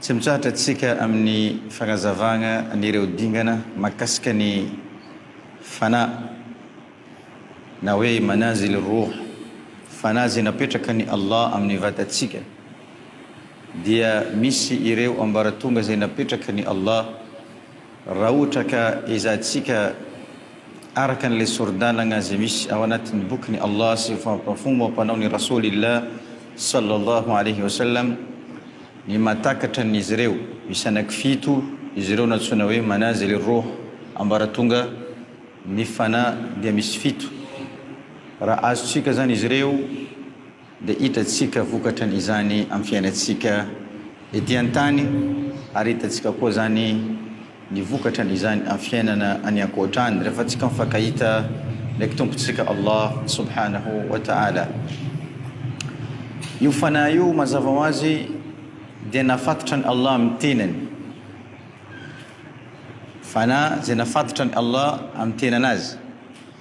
Tsy mitsahatra isika amin'ny fanazavana an'ireo dingana mahakasika ny Fana na hoe Manazil ar-Ruh, Fana izay napetrakan'i Allah amin'ny vatantsika, dia misy ireo ambaratonga izay napetrakan'i Allah, Raha ohatra ka ezahintsika araka an'ilay sori-dalagna izay misy ao anatin'ny bokin'i Allah sy fomba fanaon'i Rasoulillah sallallahu alayhi wa sallam ny mahatakatra an'izy ireo, misy anaky fito izy ireo nantsoina hoe manazil ar-rouh, ambaratonga ny fanahy dia misy fito, raha azontsika izany izy ireo, dia hitantsika vokatran izany amin'ny fiainantsika ety an-tany ary hitantsika koa izany ny vokatran izany amin'ny fiainana any ankoatra any rehefa tsika mifankahita ndraiky tompontsika Allah subhanahu wa ta'ala io fanahy io mazava ho azy dia nafatotra ny Allah amin'ny tenany fanahy izay nafatotra ny Allah amin'ny tenanazy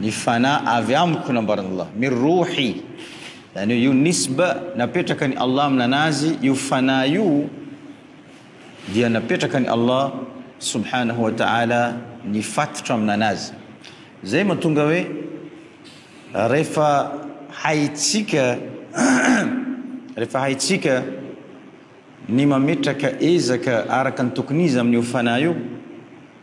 Ny fanahy avy amiko nambaran'Allah, min rouhi, zany hoe io nisba napetraka ny Allah amina anazy io fanahy io dia napetraka ny Allah subhanahu wa ta'ala ny fatotra amina anazy zay matonga hoe refa haitsika refa haitsika ny mametraka ezaka araka ny tokony izy amin'io fanahy io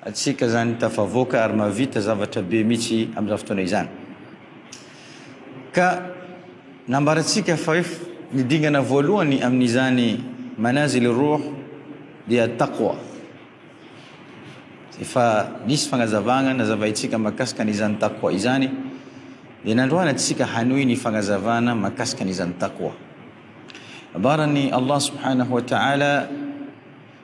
Antsika zany tafavoaka ary mahavita zavatra be mihitsy amin'izany fotoana izany. Ka nambarantsika fa hoe ny dingana voalohany amin'izany manazil ar-ruh dia at-taqwa. Efa nisy fagnazavagna nazavaintsika mahakasika an'izany taqwa izany dia nandroahana antsika hanohy ny fagnazavana mahakasika an'izany taqwa. Nambaran'i Allah subhanahu wa ta'ala.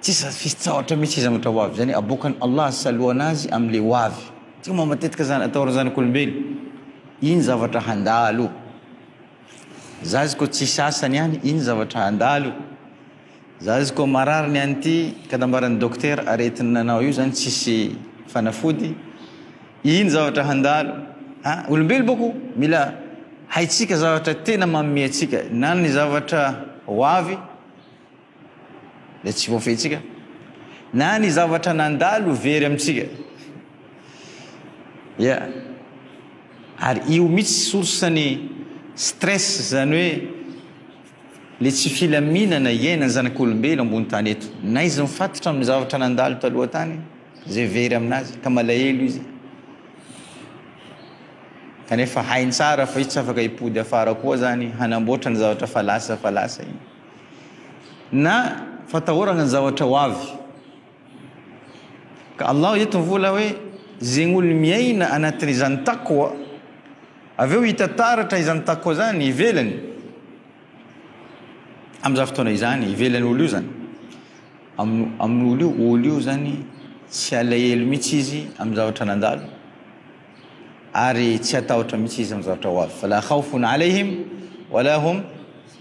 Tsy sady fitsahatra mihitsy izany ohatra hoavy izany, aboakan'i Allah saloana azy amin'ilay hoavy. Tsy mba matetika izany ataon'ny zanak'olombelo, iny zavatra handalo. Zazy koa tsy sasany any, iny zavatra handalo. Zazy koa marary ny an'ity ka nambaran'ny dokotera aretina anao io izany tsisy fanafody, iny zavatra handalo. Ha, olombelo boko mila haitsika zavatra tena manome antsika, na ny zavatra hoavy, dia tsy voafehintsika na ny zavatra nandalo very amintsika. Ia. Ary io mihitsy source ny stress izany hoe le tsy filaminana iainan'ny zanak'olombelo ambony tany eto. Na izy mifatotra amin'ny zavatra nandalo taloha tany izay very aminazy ka malahelo izy. Kanefa hainy tsara fa izy tsy afaka hipody afara koa zany hanamboatra ny zavatra fa lasa fa lasa iny. Na fatahoragna ny zavatra ho avy. Ka Allah eto mivola hoe, zegny olo miaina anatin'izany taqwa, avy eo hita taratra izany taqwa izany ivelany, amin'izany fotoana izany, ivelan'ny olo io zany, amin'ny amin'ny olo io, olo io zany tsy alahelo mihitsy izy amin'ny zavatra nandalo, ary tsy hatahotra mihitsy izy amin'ny zavatra ho avy, fala khawfun alayhim wala hum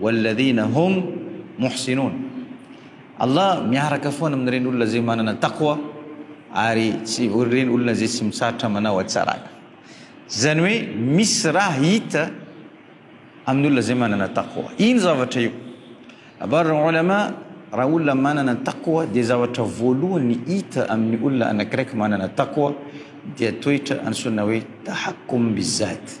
Walladhina hum mohsinoun. Allah miaraka foana amin'ireny olona izay manana taqwa ary tsy ireny olona izay tsy mitsaritra manao hatsarana. Izany hoe misy raha hita amin'ny olona izay manana taqwa. Ino zavatra io? Abarran'ny ulama raha olona manana taqwa dia zavatra voalohany hita amin'ny olona anakiraiky manana taqwa dia toetra antsoina hoe tahakkum bizat.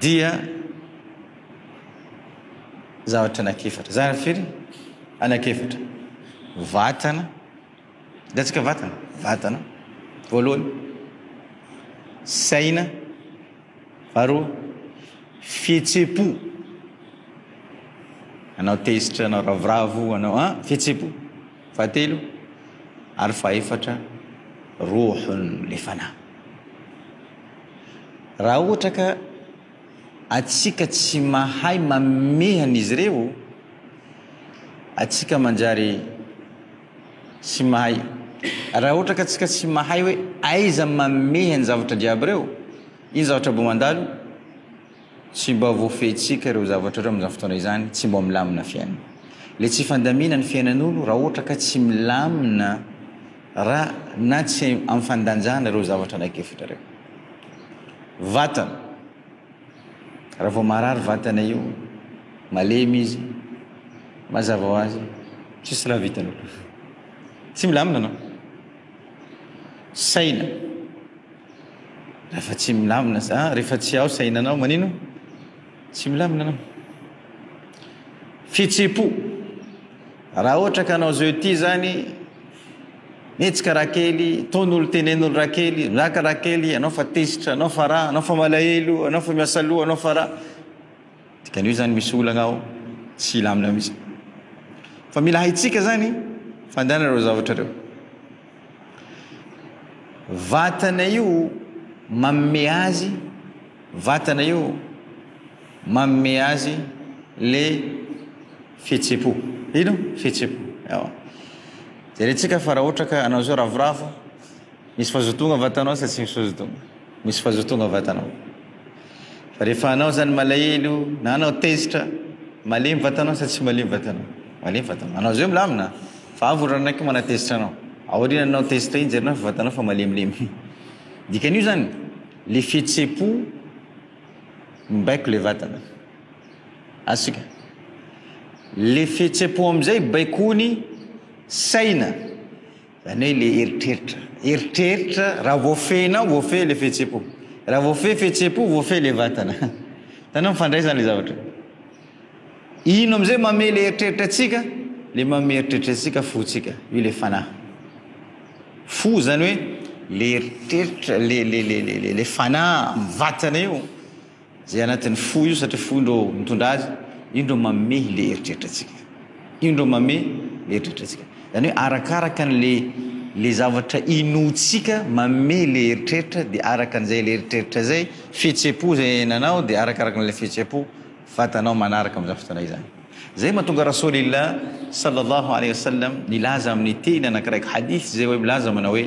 dia zavatra anakefatra. Zavatra firy? Anakefatra. Vatana. Hitantsika vatana? Vatana. Voalohany. Saina. Faharoa. Fihetsem-po. Anao tezitra, anao ravoravo, anao an, fihetsem-po. Fahatelo ary fahefatra, Rohon' le Fanahy. Raha ohatra ka atsika tsy mahay mamehy an' izy ireo, atsika manjary tsy mahay, raha ohatra ka atsika tsy mahay hoe aiza mamehy an' ny zavatra jiaby ireo, iny zavatra bo mandalo, Tsy mba voafehintsika ireo zavatra ireo amin'izany fotoana izany, tsy mba milamina fiainana. Ilay tsy fandamina ny fiainan'olo raha ohatra ka tsy milamina raha na tsy amin'ny fandanjana ireo zavatra anak'efatra ireo. Vatana, raha vao marary vatana io, malemy izy, mazava ho azy, tsisy raha vitanao. Tsy milamina anao. Saina. Rehefa tsy milamina za, rehefa tsy ao sainanao, manino? Tsy milamina anao. Fitsipo. Raha ohatra ka anao zao ity zany, mihetsika raha kely, tonolo tenenolo raha kely, miraka raha kely, anao fa tezitra, anao fa raha, anao fa malahelo, anao fa miasa loha, anao fa raha. Dikan'io izany misy olana ao tsy hilamina mihitsy. Fa mila haintsika izany fandàna ireo zavatra ireo. Vatana io mamme azy, vatana io mamme azy le fihetsem-po. Ino? Fihetsem-po. Ewa. Jerentsika fa raha ohatra ka anao izao ravoravo, misy fazotoagna vatanao sa tsy misy fazotoagna? Misy fazotoana vatanao fa rehefa anao zany malahelo na anao tezitra malemy vatanao sa tsy malemy vatanao malemy vatanao anao zeo milamina fa avy ranaiky manatezitra anao aoriana anao tezitra iny jerena fa vatanao fa malemilemy dikan'io zany le fihetse-po mibaiko le vatana asika le fihetse-po amizay baikoiny saina Zany hoe le eritreritra, eritreritra raha voafehinao voafehy le fihetsem-po, raha voafehy fihetsem-po voafehy le vatana. Hitanao mifandray zany le zavatra. Ino amizay mamehy le eritreritra antsika? Le mamehy eritreritra antsika fontsika, io le fanahy. Fo zany hoe le eritreritra, le le le le le fanahy am vatana io. Izay anatin'ny fo io satria fo indro mitondra azy, indro manome ilay eritreritra antsika. Indro manome ilay eritreritra antsika. Izany hoe arakaraka an'ilay ilay zavatra inoantsika manome ilay eritreritra dia araka an'izay ilay eritreritra izay, fihetseham-po izay iainanao dia arakaraka an'ilay fihetseham-po vatanao manaraka amin'izany fotoana izany. Izay mahatonga Rasoulillah Sallallahu Alaihi Wasallam nilaza amin'ny teny anankiray hadith izay hoe milaza manao hoe,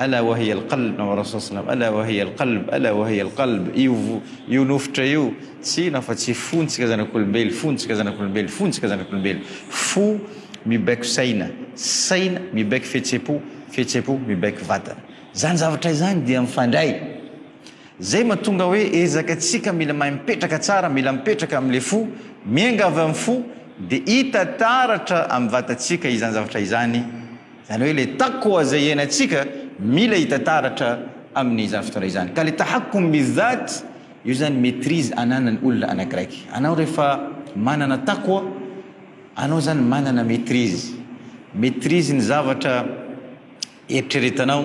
Ala wa hiya al-qalb, na wa Rasul saw, Ala wa hiya al-qalb, Ala wa hiya al-qalb, io io nofotra io tsy inona fa tsy fontsika zanak'olombelo, fontsika zanak'olombelo, fontsika zanak'olombelo, fo mibaiko saina, saina mibaiko fihetsem-po, fihetsem-po mibaiko vatana. Izany zavatra izany dia mifandray. Izay mahatonga hoe ezaka antsika mila mahay mipetraka tsara, mila mipetraka amin'ilay fo, miainga avy amin'ny fo dia hita taratra amin'ny vatantsika izany zavatra izany. Izany hoe ilay taqwa izay iainantsika mila hita taratra amin'izany fotoana izany. Ka ilay tahakkum bi-dhat, io izany maîtrise ananan'ny olona anakiraiky. Anao rehefa manana taqwa, anao izany manana maîtrise. Maîtrise ny zavatra eritreretanao.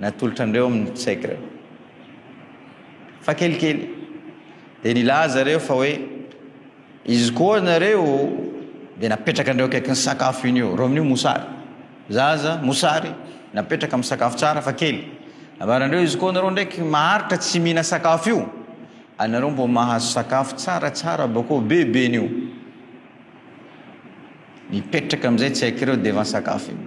natolotra an'ireo amin'ny Tsegre. Fa kelikely dia nilaza ireo fa hoe izy koa nareo dia napetraka an'ireo akaikin'ny sakafo iny eo. Rominio mosary. Zaza mosary napetraka amin'ny sakafo tsara fa kely. Nambaran'ireo izy koa nareo ndraiky maharitra tsy mihina sakafo io. Anareo mbo mahazo sakafo tsara tsara bakao be be nio. Nipetraka amin'izay Tsegre ireo devan sakafo iny.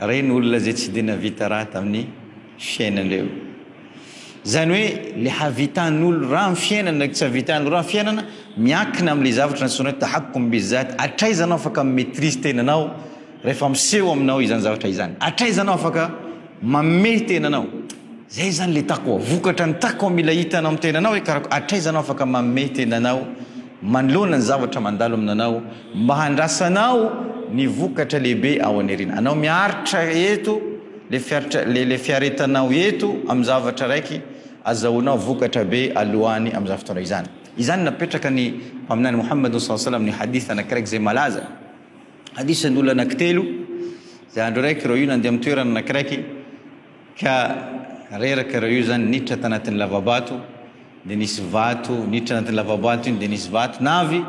Reny olona zay tsy de navita raha tamin'ny fiainandreo. Zany hoe le havitan'olo raha am fiainana ndraiky tsy havitan'olo raha am fiainana miankina amle zavatra nantsoina hoe tahakkum bi zat atraiza anao afaka mi maitrise tenanao refa miseho aminao izany zavatra izany atraiza anao afaka mamehy tenanao zay zany le taqwa vokatra ny taqwa mila hitanao am tenanao hoe karakory atraiza anao afaka mamehy tenanao manoloana ny zavatra mandalo aminanao Mba handrasanao ny vokatra lehibe ao an'irina. Anao miaritra eto, le fiaritra, le, le fiaretanao eto amin'ny zavatra raiky, azahoanao vokatra be aloany amin'izany fotoana izany. Izany no napetraka ny Mpaminany Mohamadon saw salam amin'ny hadith anakiraiky izay malaza. Hadith an'olona anakitelo, izay andro raiky ireo io nandeha amin'ny toerana anakiraiky, Ka reraka ireo io zany niditra tanatin'ny lavabato dia nisy vato niditra anatin'ny lavabato iny dia nisy vato navy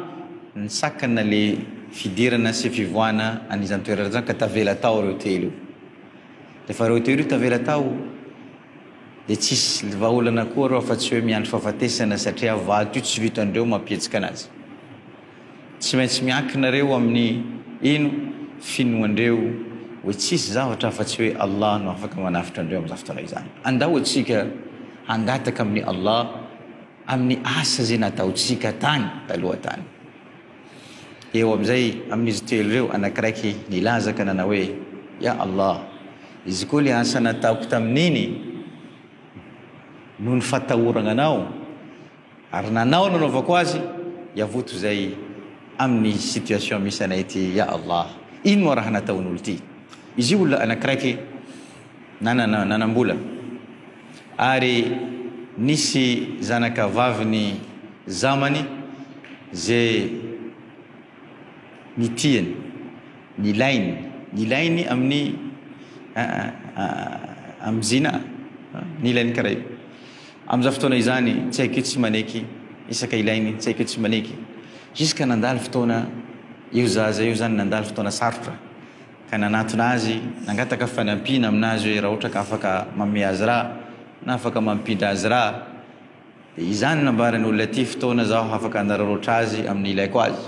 nisakana le fidirana sy fivoahana an'izany toerana izany ka tavela tao ireo telo io rehefa ireo telo io tavela tao dia tsisy vahaolana koa ireo afa-tsy hoe miandry fahafatesana satria vato io tsy vitan'ireo mampietsika anazy Tsy maintsy miankina reo amin'ny ino finoandreo oe tsisy zavatra afa tsy oe Allah no afaka manavotra andreo amin'izany fotoana izany. Andao atsika hangataka amin'ny Allah amin'ny asa ze nataotsika tany taloha tany. Eo amin'izay amin'izy telo reo anakiraiky nilaza ka nanao oe, Ya Allah, izy koa le asa nataoko tamin'iny noho ny fatahoragna anao, Ary nanao nanaovako azy yavoto zay aminy situation misy anay ty ya Allah ino moa raha nataon olo ty izy io olona anakiraiky nanana nanambola ary nisy zanaka vaviny zamany ze Ny tiany. Ny ilainy. Ny ilainy amin'ny amin'ny zina a. Ny ilainy karaha io. Amin'izany fotoana izany tsy haiko io tsy maneky isaka ilainy tsy haiko io tsy maneky. Jusqu'à nandalo fotoana io zaza io zany nandalo fotoana sarotra ka nanatona azy nangataka fanampiana aminazy hoe raha ohatra ka afaka manome azy rà na afaka mampindra azy rà. Dia izany nambarany olona ity fotoana zaho afaka hanararaotra azy amin'ny ilaiko azy.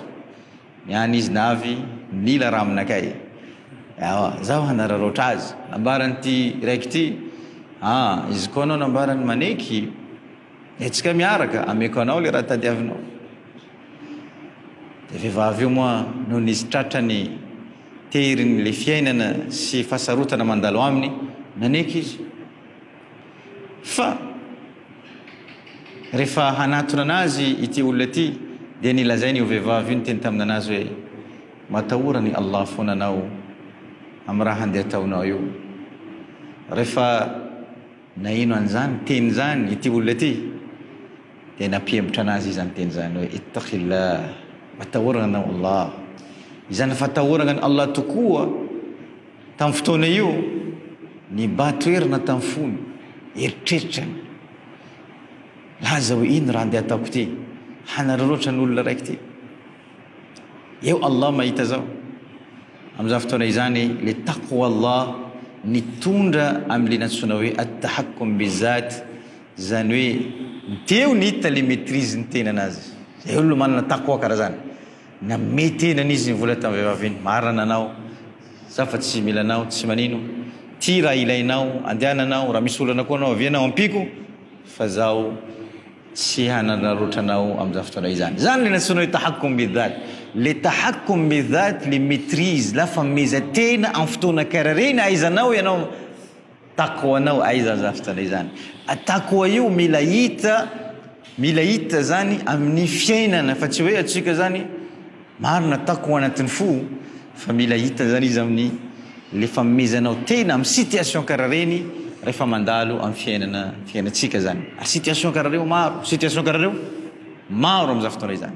Ny an izy navy nila raha aminakay. Ewa, zaho hanararaotra azy. Nambaran'ity raiky ity, ah, izy koa anao nambarany maneky, dia atsika miaraka, ameko anao le raha tadiavinao. Dia vehivavy io moa noho ny izy tratra ny tery ny le fiainana sy fahasarotana mandalo aminy, naneky izy. Fa rehefa hanatona anazy ity olona ity dia nilazainy io vehivavy io niteny tamina anazy hoe matahora ny Allah foana anao amin'ny raha handeha ataonao io. Rehefa naheno an'izany teny izany ity olona ity dia nampihembotra anazy izy izany teny izany hoe ittaqillah matahorana anao Allah. Izany fatahorana an'i Allah tokoa Tamin'ny fotoana io, nibahan-toerana tamin'ny fony, eritreritrany. Laza hoe, Ino raha andeha ataoko ity? Hanararaotra ny olona raiky ity. Eo Allah mahita izao. Amin'izany fotoana izany, ilay taqwa Allah nitondra amin'ilay nantsoina hoe at-tahakkum bi-zat, izany hoe, dia eo ny hita ilay maîtrise ny tenan'azy. Izay olona manana taqwa karazany. Namehy tena ny izy nivola tamin'ny vehivavy iny, Marina anao, izaho fa tsy mila anao, tsy manino. Tia raha ilainao, andehananao, raha misy olana koa anao avia anao ampiako fa izaho tsy hanandrarotra anao amin'izany fotoana izany. Izany ilay nantsoinao hoe tahakkum bidhat. Ilay tahakkum bidhat, ilay maîtrise, lafamezaha-tena amin'ny fotoana karary. Eny, ahaizanao ianao. Tako anao aiza aza fitana izany tako a io mila hita mila hita zany amin'ny fiainana fa tsy hoe atsika zany marina tako anatin'ny fo fa mila hita zany izy amin'ny le famezanao tena amin'ny situation karaha reny rehefa mandalo amin'ny fiainana fiainantsika zany ary situation karaha reo maro situation karaha reo maro am'za fotoana izany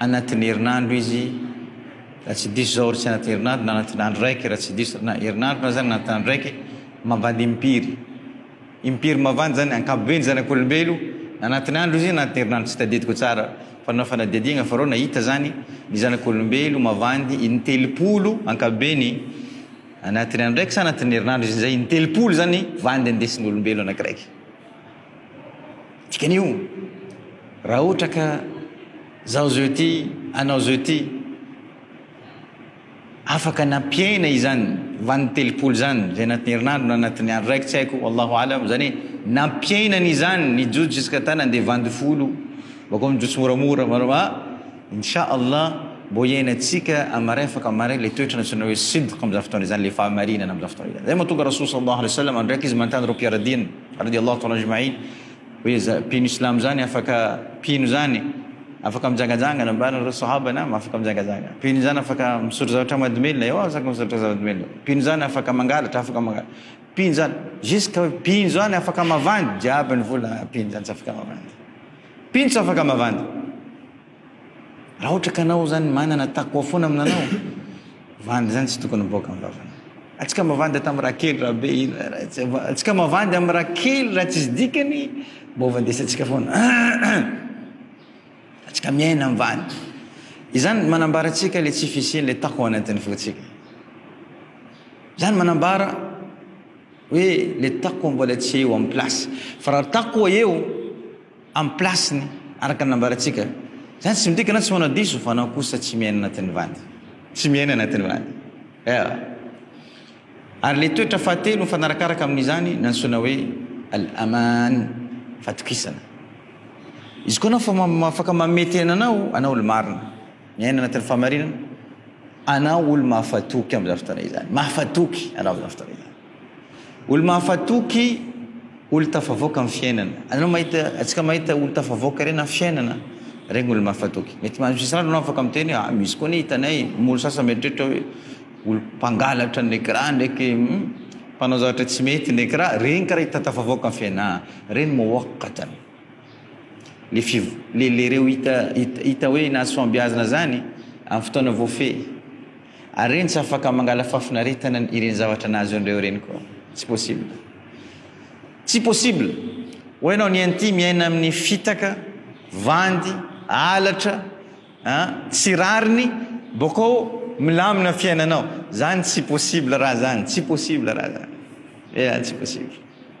Anatin'ny herinandro izy, raha tsy diso izao, ary tsy anatin'ny herinandro, na anatin'ny andro raiky, raha tsy diso, na herinandro na zany, na anatin'ny andro raiky, mavandy impiry. Impiry mavandy zany, ankapobeny ny zanak'olombelo, na anatin'ny andro izy, na anatin'ny herinandro, tsy tadidiko tsara, fa nanao fanadihadiagna aho reo nahita zany, ny zanak'olombelo mavandy in-telopolo ankapobeny, anatin'ny andro raiky sa anatin'ny herinandro izy, zay in-telopolo zany vandy andesin'olombelo anakiraiky. Dikan'io, raha ohatra ka zaho zao ity, anao zao ity, afaka nampiaina izany vaniny telopolo zany, zay anatin'ny herinandro na anatin'ny andro raiky tsy haiko, Wallahu A'lam, zany hoe nampiaina an'izany ny jojo jusqu'à ta nandeha vandy folo, bakeo mijotso moramora, ah, Incha Allah mbô hiainantsika amin'ny marefaka maray le toetra nantsoina hoe sidq amin'izany fotoana izany, le fahamarinana amin'izany fotoana izany. Zay mahatonga Rasoul Sallallahu Alaihi Wasallam andro raiky izy manontany reo mpiara-diany, Radiallahu ta'ala ajma'in, hoe izany mpino islamo izany afaka, mpino izany afaka mijangajangana, ambarany ireo sahaba nam, afaka mijangajangana, mpino izany afaka misotro zavatra mahadomelina, eo aza misotro zava-domelina, mpino izany afaka mangalatra, afaka mangalatra, mpino izany, jusque hoe mpino izany afaka mavandy, jiaby ny vola, mpino izany tsy afaka mavandy, mpino tsy afaka mavandy. Raha ohatra ka anao zany manana takoa foana aminanao, vandy zany tsy tokony miboaka amin'ny vavanao. Atsika mavandy ato amin'ny kely raha be iny, atsika mavandy amin'ny raha kely raha tsisy dikany, mba ovandesantsika foana. Atsika miaina amin'ny vandy. Izany manambara atsika le tsy fisian'le tako ao anatin'ny fotsika. Zany manambara hoe le tako mbola tsy eo amin'ny place. Fa raha tako eo, Amin'ny place-ny, araka ny nambarantsika. Izany tsy midika na tsy manao diso fa anao kosa tsy miaina anatin'ny vady. Tsy miaina anatin'ny vady. Ewa. Ary ilay toetra fahatelo mifanarakaraka amin'izany no antsoina hoe al-aman, fahatokisana. Izy koa anao fa afaka manome tena anao, anao olo-marina, miaina anatin'ny fahamarinana, anao olo-mahafatoky amin'izany fotoana izany. Mahafatoky anao amin'izany fotoana izany. Olo-mahafatoky olo-tafavoaka amin'ny fiainana. Anao mahita, antsika mahita olo-tafavoaka ireny amin'ny fiainana, ireny olo-mahafatoky. Mety misy rano anao afaka miteny hoe, ah, misy koa anie hitanay, ny olo sasany mieritreritra hoe, olom-pangalatra ny ecran ndraiky, hum, mpanao zavatra tsy mety ny ecran, ireny karaha hita tafavoaka amin'ny fiainana, ah, ireny muwaqqatan. Le fiv-, le, le ireo hita, hita, hita hoe nahasoa am-biazina izany, amin'ny fotoana voafehy. Are ntsy afaka mangala fafinaretana ny ireny zavatra nahazo anreo ireny koa tsy possible tsy possible oa enao ny anty miaina aminy fitaka vandy alatra a tsy rariny bokao milamina fiainanao zany tsy possible raha zany tsy possible raha zany ea tsy possible.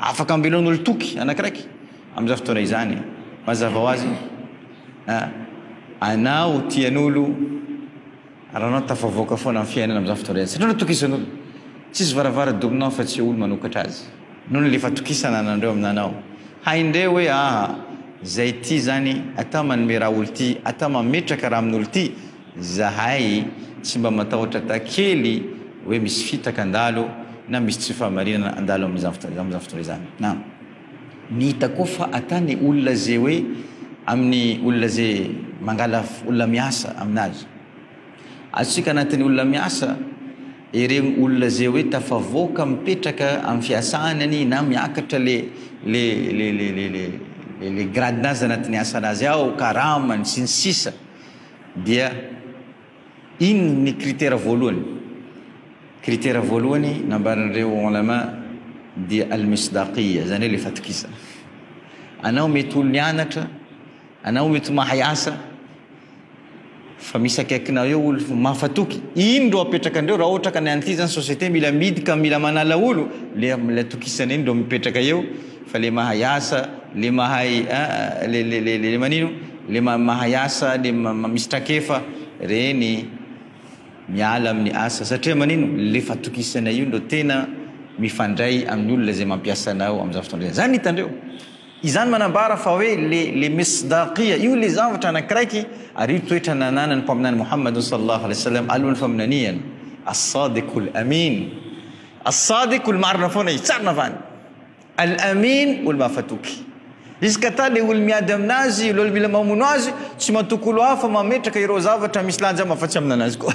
Afaka ambela ny olon-toky anakiraiky amin'izany fotoana izany e! Mazava ho azy a! Anao tian'olo ary anao tafavoaka foana amin'ny fiainana amin'izany fotoana izany satria anao tokisan'olo. Tsisy varavara-dorona ao afa-tsy olo manokatra azy. Anao no lefa tokisana ananreo aminanao. Haindreo hoe aa! Zay ty zany atao manome raha olo ty, atao mametraka raha amin'olo ty. Zahay tsy mba matahotra ta kely hoe misy fitaka handalo na misy tsy fahamarinana handalo amin'izany fotoana izany na ny hita koa fa ata ny olona ze hoe amin'ny olona ze mangala olona miasa aminazy azontsika anatin'ny olona miasa ireny olona ze hoe tafavoaka mipetraka amin'ny fiasany anie na miakatra le le le le le le le grade-nazy anatin'ny asanazy ao karamany sy ny sisa Dia inona ny critère voalohany? Critère voalohany nambaran'ireo Ulama dia Al-Misdaqiyya, izany hoe ilay fatokisana. Anao mety ho nianatra, anao mety ho mahay asa, fa misy akaikinao eo olo mahafatoky, iny ndro apetraka andreo raha ohatra ka ny an'ity zany société mila midy ka mila manala olo, le am'ilay atokisana iny ndro mipetraka eo, fa le mahay asa, le mahay a, le le le le manino? Le mahay asa le misy trakefa reny miala amin'ny asa satria manino le fatokisanay io no tena mifandray amin'ny olona izay mampiasa anao amin'izany fotoana izany. Izany hitandreo. Izany manambara fa hoe le le misdaqiyya io le zavatra anakiraiky ary io toetra nananan'ny mpaminany Mohamadun sallallahu alaihi wasallam alohan'ny faminaniany. As-sadiqul amin. As-sadiq olo marina foana izy tsy ary navahana. Al-Amin olo mahafatoky. Izy ka ta le olo miady aminazy, olo mila mamono azy, tsy matoky olo hafa mametraka ireo zavatra misy lanja aminy afa-tsy amina anazy koa.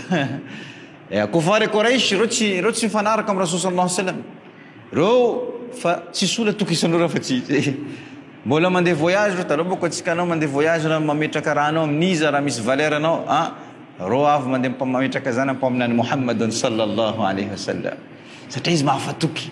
Eeh, kofar e Qouraish, ireo tsy ireo tsy mifanaraka amin'ny Rasoul Sallallahu Alayhi Wasallam. Ireo fa tsisy olo atokisan'ireo afa-tsy izy. Mbola mandeha voyage ireo, taloha manko antsika anao mandeha voyage na mametraka raha anao amin'iza raha misy valeur anao a, ireo avy mandeha mpa- mametraka zany ampaminany Mohammedun Sallallahu Alayhi Wasallam. Satria izy mahafatoky.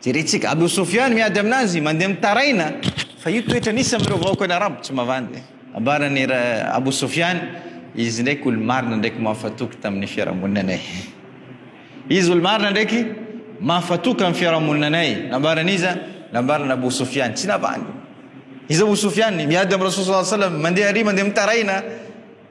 Jerentsika, Abu Sufyan miady amin'azy, mandeha mitaraina, fa io toetra nisy amin'ireo vahoakan'ny Arabo tsy mavandy. Nambaran'i Ra Abu Sufyan, Izy ndraiky olo-marina ndraiky mahafatoky tamin'ny fiarahamoninanay. Izy olo-marina ndraiky mahafatoky amin'ny fiarahamoninanay. Nambaran'iza? Nambaran'i Abu Sufyan, tsy navandy. Iza Abu Sufyan? Miady amin'i Rasul sallallahu alayhi wa sallam, mandeha àry, mandeha mitaraina.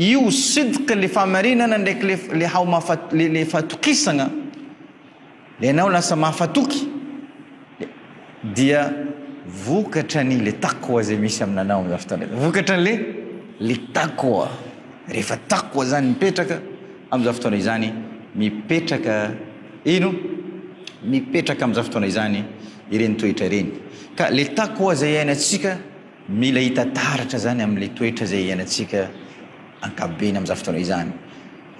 Io sidq le famarinana ndraiky le le haomafa le le fatokisagna le anao lasa mahafatoky le dia vokatra ny le taqwa zay misy aminanao amizao fotoana izao vokatra ny le le taqwa rehefa taqwa zany mipetraka amizao fotoana izany mipetraka ino mipetraka amizao fotoana izany ireny toetra ireny ka le taqwa zay iainantsika Mila hita taratra izany amin'ilay toetra izay iainantsika ankapobeny amin'izany fotoana izany.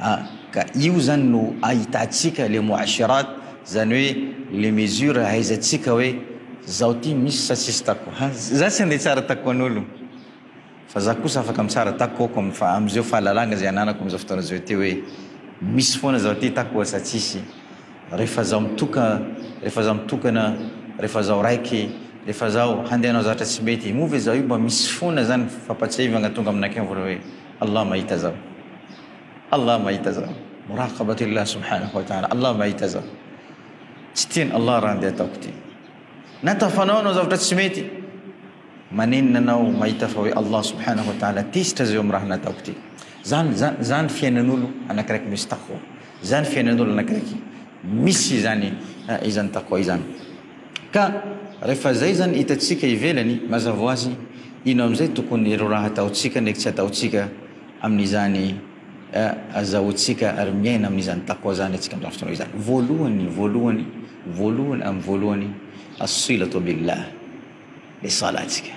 A, ka io izany no ahitantsika ilay mu'ashirat, izany hoe ilay mesure ahaizantsika hoe izaho ity misy sa tsisy tako. Ha, izaho tsy handeha hitsara tako an'olo, fa izaho kosa afaka mitsara takoako amin'ny fa, amin'izao fahalalana izay ananako amin'izao fotoana izao ity hoe misy foana izaho ity tako sa tsisy. Rehefa zaho mitoka, rehefa zaho mitokana, rehefa zaho raiky, rehefa zaho handeha hanao zavatra tsy mety, moa ve zaho io mba misy fona zany fampatsiahivagna tonga aminakahy vola hoe Allah mahita zaho, Allah mahita zaho, muraqabatillah subhanahu wa ta'ala, Allah mahita zaho, tsy tian'i Allah raha andeha ataoko ty. Na tafanao hanao zavatra tsy mety, manenina anao mahita fa hoe Allah subhanahu wa ta'ala tezitra zao amin'ny raha nataoko ty. Zany, zany, zany fiainan'olo anakiraiky misy taqwa. Izany fiainan'olona Grika misy izany izany taqwa izany. Ka rehefa izay izany hitantsika ivelany mazava ho azy ino amin'izay tokony ireo raha ataontsika ndraiky tsy ataontsika amin'izany azahoantsika ary miaina amin'izany taqwa izany antsika amin'izany fotoana izany. Voalohany, voalohany, voalohany amin'ny voalohany as-silatu billah, ny salantsika.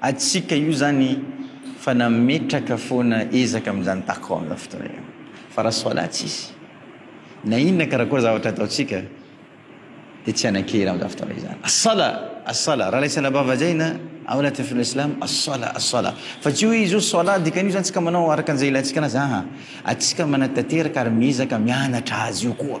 Antsika io zany fa nametraka foana ezaka amin'izany Tacom amin'izao fotoana io fa raha Soalà tsisy na inona karakory zavatra ataontsika dia tsy hanan-kery amin'izany fotoana izany. As-Salah! As-Salah! Raha ilay Salabà vazaina ao anatin'ny Filohan'ny Silamo, As-Salah! As-Salah! Fa tsy hoe izy hoe Soalà dikan'io izany tsika manao araka an'izay ilaintsika anazy, aa! Atsika manatanteraka ary miezaka mianatra azy io koa.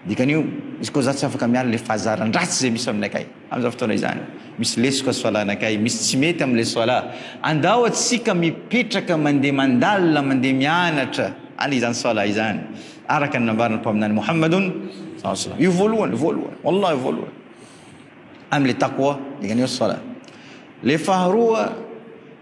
Dikan'io, izy koa za tsy afaka miala le fahazaran-dratsy zay misy aminakay amzao fotoana izany. Misy lesoka ny soalanakay, misy tsy mety amle soala. Andao atsika mipetraka mande mandalina mande mianatra any izany soala izany araka ny nambaran'ny mpaminany Mohamadun saw. Io voalohany voalohany wallahi voalohany amle taqwa, dikan'io soala. Le faharoa.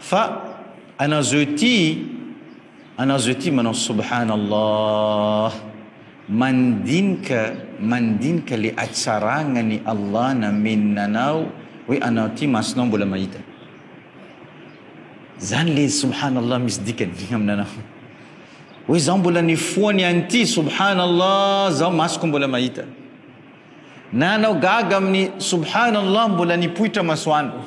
Fa ana zao ity ana zao ity manao subhana Allah mandinika mandinika le atsaragnany Allah nameny nanao hoe anao ty masonao mbola mahita zany le subhana Allah misy dikany aminanao hoe zao mbola nifoany an'ity subhana Allah zao masoko mbola mahita na anao gaga amin'ny subhana Allah mbola nipoitra masoandro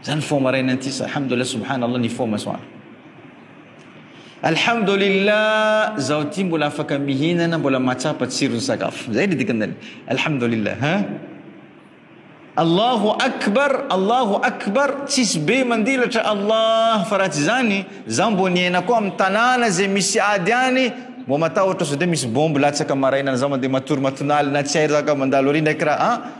Zany fo maraina ity sa alhamdulillah subhanallah ny fo masoandro. Alhamdulillah zao ty mbola afaka mihinana mbola mahatsapa tsiron'ny sakafo. Zay ny dikan'ilay alhamdulillah ha. Allahu akbar, Allahu akbar, tsisy be mandilatra Allah fa raha tsy zany za mbo niaina koa amin'ny tanàna zay misy ady any mbo matahotra sao de misy bombe latsaka maraina zao mandeha matory matonalina tsy hay raka mandalo ary ndraiky raha a.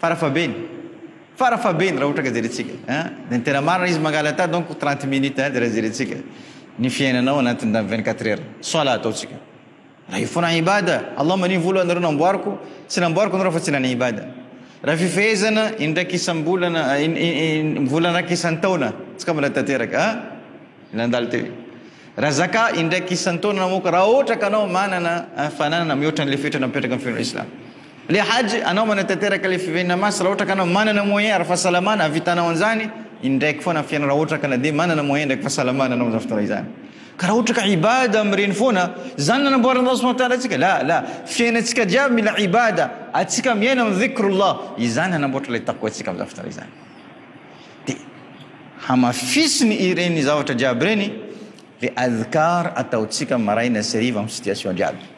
Fara fabeny Fara fabeny raha ohatra ka jerentsika a de tena marina izy mangaly ata donc trente minutes a de raha jerentsika ny fiainanao anatin'izany vingt quatre heures solat ataontsika raha io foana ibada Allah manio vola anareo namboariko tsy namboariko anareo fa tsy nana ibada raha fifehezana indraika isam-bolana volana raika isan-taona tsy ka mbola tanteraka a nandalo teo raha zaka indraika isan-taona namoaka raha ohatra ka anao manana fananana mihoatra an'ilay fetra napetraka amin'ny fiainana islam Le hajj anao manatanteraka le fiveninana masy raha ohatra ka anao manana moyen ara fahasalamana havitanao anzany indraiky foana am fiainana raha ohatra ka na dia manana moyen indraiky fahasalamana anao amzany fotoana izany ka raha ohatra ka ibada am reny foana zany nanamboaran Allah subhanahu wa ta'ala atsika la la fiainantsika jiaby mila ibada atsika miaina am dhikrullah izany hanamboatra le taqwa tsika amzany fotoana izany de hamafisiny ireny zavatra jiaby reny le adhkar ataotsika maraina sy hariva am situation jiaby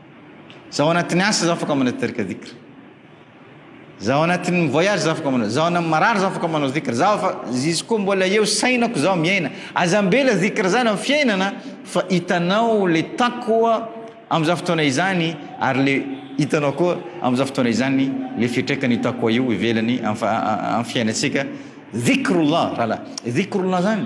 Zaho anatin'ny asa zaho afaka manao teraka dhikr. Zaho anatin'ny voyage zaho afaka manao. Zaho anatin'ny marary zaho afaka manao dhikr. Zaho fa izy koa mbola eo sainako zaho miaina. Aza ambela dhikr zany amin'ny fiainana fa hitanao le taqwa amin'izany fotoana izany ary le hitanao koa amin'izany fotoana izany le fiatraikany io taqwa io ivelany amin'ny fiainantsika. Dhikrullah raha dhikrullah zany.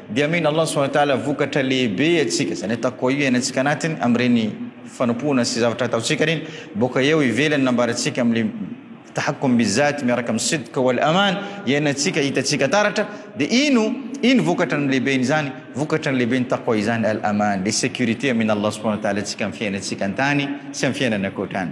Dia amin Allah subhanahu wa ta'ala vokatra lehibe iatsika izany ataoko koa io iainantsika anatiny amin'ireny fanompoana sy zavatra ataontsika ireny boka eo ivelany nambarantsika amle tahakkum bizat miaraka amin'ny sidq wal aman iainantsika hitantsika taratra dia ino ino vokatra ny lehibeny izany vokatra ny lehibeny taqwa izany al aman le sécurité amin Allah subhanahu wa ta'ala antsika amin'ny fiainantsika antany sy amin'ny fiainana ankoatrany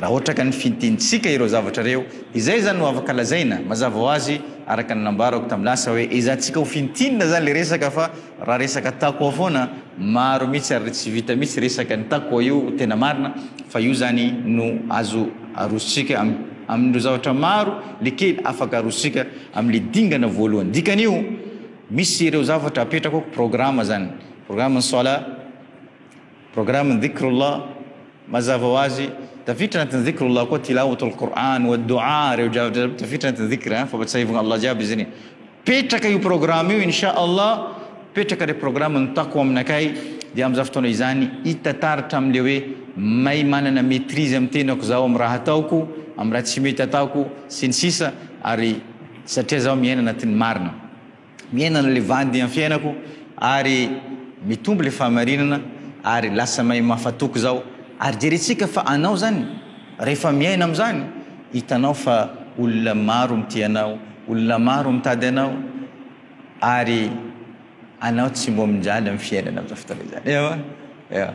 Raha ohatra ka nifintinintsika ireo zavatra ireo, izay izany no afaka lazaina, mazava ho azy, araka ny nambarako tamin'ny lasa hoe ezahantsika ho fintinina izany ilay resaka fa raha resaka taqwa foana, maro mihitsy ary tsy vita mihitsy resaka ny taqwa io tena marina fa io izany no azo arosontsika amin'ireo zavatra maro le kely afaka arosontsika amin'ilay dingana voalohany. Dikan'io, misy ireo zavatra apetrako programme izany, programme ny salat, Programme Dhikrullah, Mazava ho azy, tafiditra anatin'ny Dhikrullah koa Tilawatul Qur'an, wa Doua, ireo drafitra jiaby tafiditra anatin'ny Dhikr, fampatsiahivagna Allah jiaby izy ireny. Petraka io programme io Insha Allah, petraka le programme ny Taqwa aminakay dia amin'izany fotoana izany hita taratra amin'le hoe may manana maîtrise amin'ny tenako zaho amin'ny raha ataoko, amin'ny raha tsy mety ataoko sy ny sisa ary satria zaho miaina anatin'ny marina. Miaina an'ilay vandy amin'ny fiainako ary mitombo ilay fahamarinana ary lasa mahay mahafatoky izao ary jerentsika fa anao izany rehefa miaina amin'izany hitanao fa olona maro mitia anao, olona maro mitady anao ary anao tsy mbominjaly amin'ny fiainana amin'izao fotoana izany. Ewa? Ewa.